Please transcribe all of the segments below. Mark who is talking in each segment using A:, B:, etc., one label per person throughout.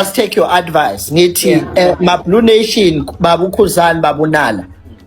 A: just take your advice ngithi yeah. eh, ma blue nation baba ukhuzani baba unala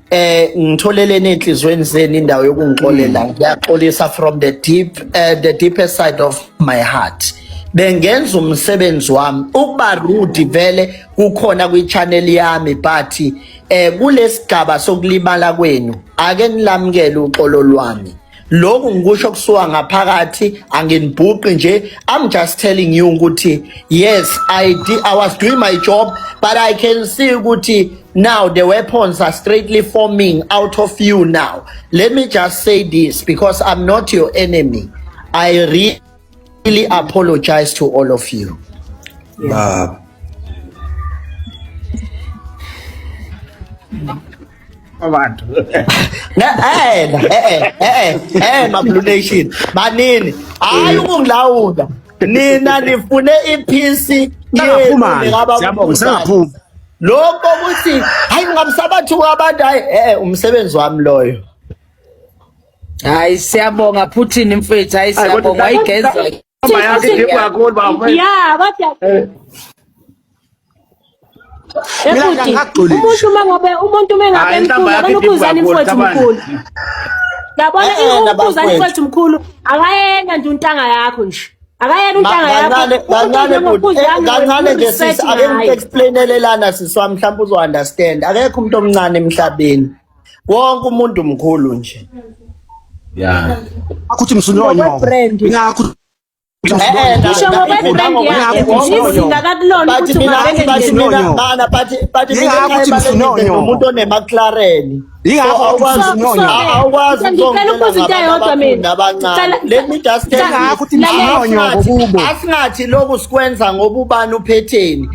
A: eh ngitholeleni enhlizweni zenu indawo yokungixolela hmm. ngiyaxolisa from the deep uh, the deepest side of my heart bengenza umsebenzi wami ukuba rude vele kukhona kwi-channel yami but eh kulesigaba sokulibala kwenu ake nilamukele uxolo lwami lokhu ngikusho kusuka ngaphakathi anginibhuqi nje i'm just telling you ukuthi yes i did, i was doing my job but i can see ukuthi now the weapons are straightly forming out of you now let me just say this because i'm not your enemy i read really apologize to all of you. Baba.
B: abantu eh eh eh
A: eh mablu nation banini hayi ukungilawula nina nifune iphisi ngaphuma
B: siyabonga sengaphuma lokho
A: ukuthi hayi ngamsabathu abantu hayi eh umsebenzi wami loyo
C: hayi siyabonga Putin mfethu hayi siyabonga wayigeza ya kodwa
D: eh. umuntu uma ngabe umuntu uma ngabe mkhulu akanukhuzani mfowethu mkhulu yabona eh, eh, ukhuzani mfowethu mkhulu akayena nje untanga yakho nje akayena untanga yakho kancane kancane nje
A: sisi ake ngikuexplainele lana siswa mhlawumbe uzo understand akekho umuntu omncane emhlabeni wonke umuntu mkhulu nje ya
B: akuthi msunyonyo ngokwebrand
A: ngakho umuntu onemaclaren awukwazi asingathi loku sikwenza ngoba ubani uphetheni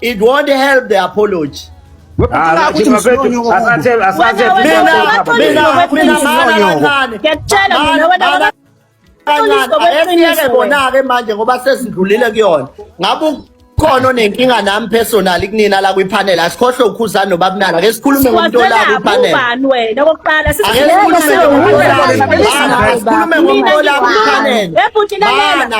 A: It won't help the apology. Ah, Ngiyakutshela bona-ke manje ngoba sesidlulile kuyona ngabe khona onenkinga nami personal kunina la kwipanel asikhohle ukhuzana nobabunala ke sikhulume ngomuntu ola kwipanel ubani wena kokuqala sikhulume ngomuntu ola kwipanel ebhuti lalela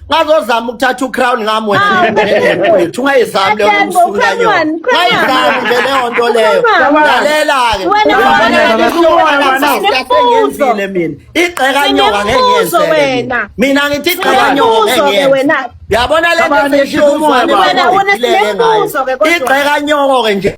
A: ngazozama ukuthatha ucrown ngami wena wethu ungayizami leyo msula yo ngayizami nje leyo nto leyo lalela-ke ngenzile mina igxeka nyoka ngengenzele mina ngithi igxeka nyoka ngengenzele yabona le nto seyisho umoya igxeka nyoko-ke nje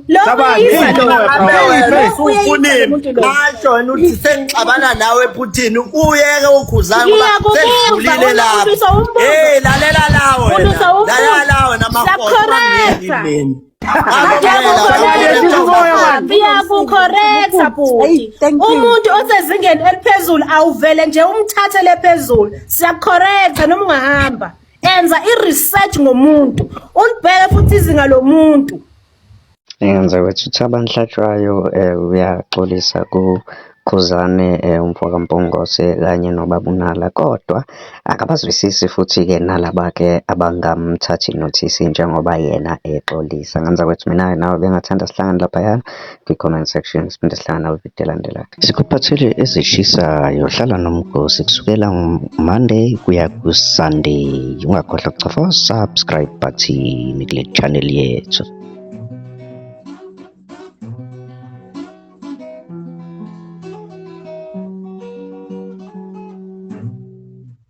A: asho yena uthi sengixabana nawe phuthini uyeke ukhuzana ngoba sengidlulile lapho hey lalela lawo lalela lawo namakhona
D: ngiyakukhorektha bhuti umuntu osezingeni eliphezulu awuvele nje umthathe lephezulu siyakukhorektha noma ungahamba enza i-research ngomuntu ulibheke futhi izinga lomuntu
E: Ngenza ukuthi uThabo Nhlatywayo uyaxolisa kuKhuzani umfoka Mpungose kanye nobaba uNala, kodwa akabazwisisi futhi-ke nalaba-ke abangamthathi nothisi njengoba yena exolisa. Ngenza ukuthi mina-ke nawe bengingathanda sihlangane laphayana kwi-comment section siphinde sihlangana kwividiyo elandelayo sikuphathele ezishisayo hlala nomgosi kusukela monday kuya kusunday ungakhohlwa kucofa subscribe button kule channel yethu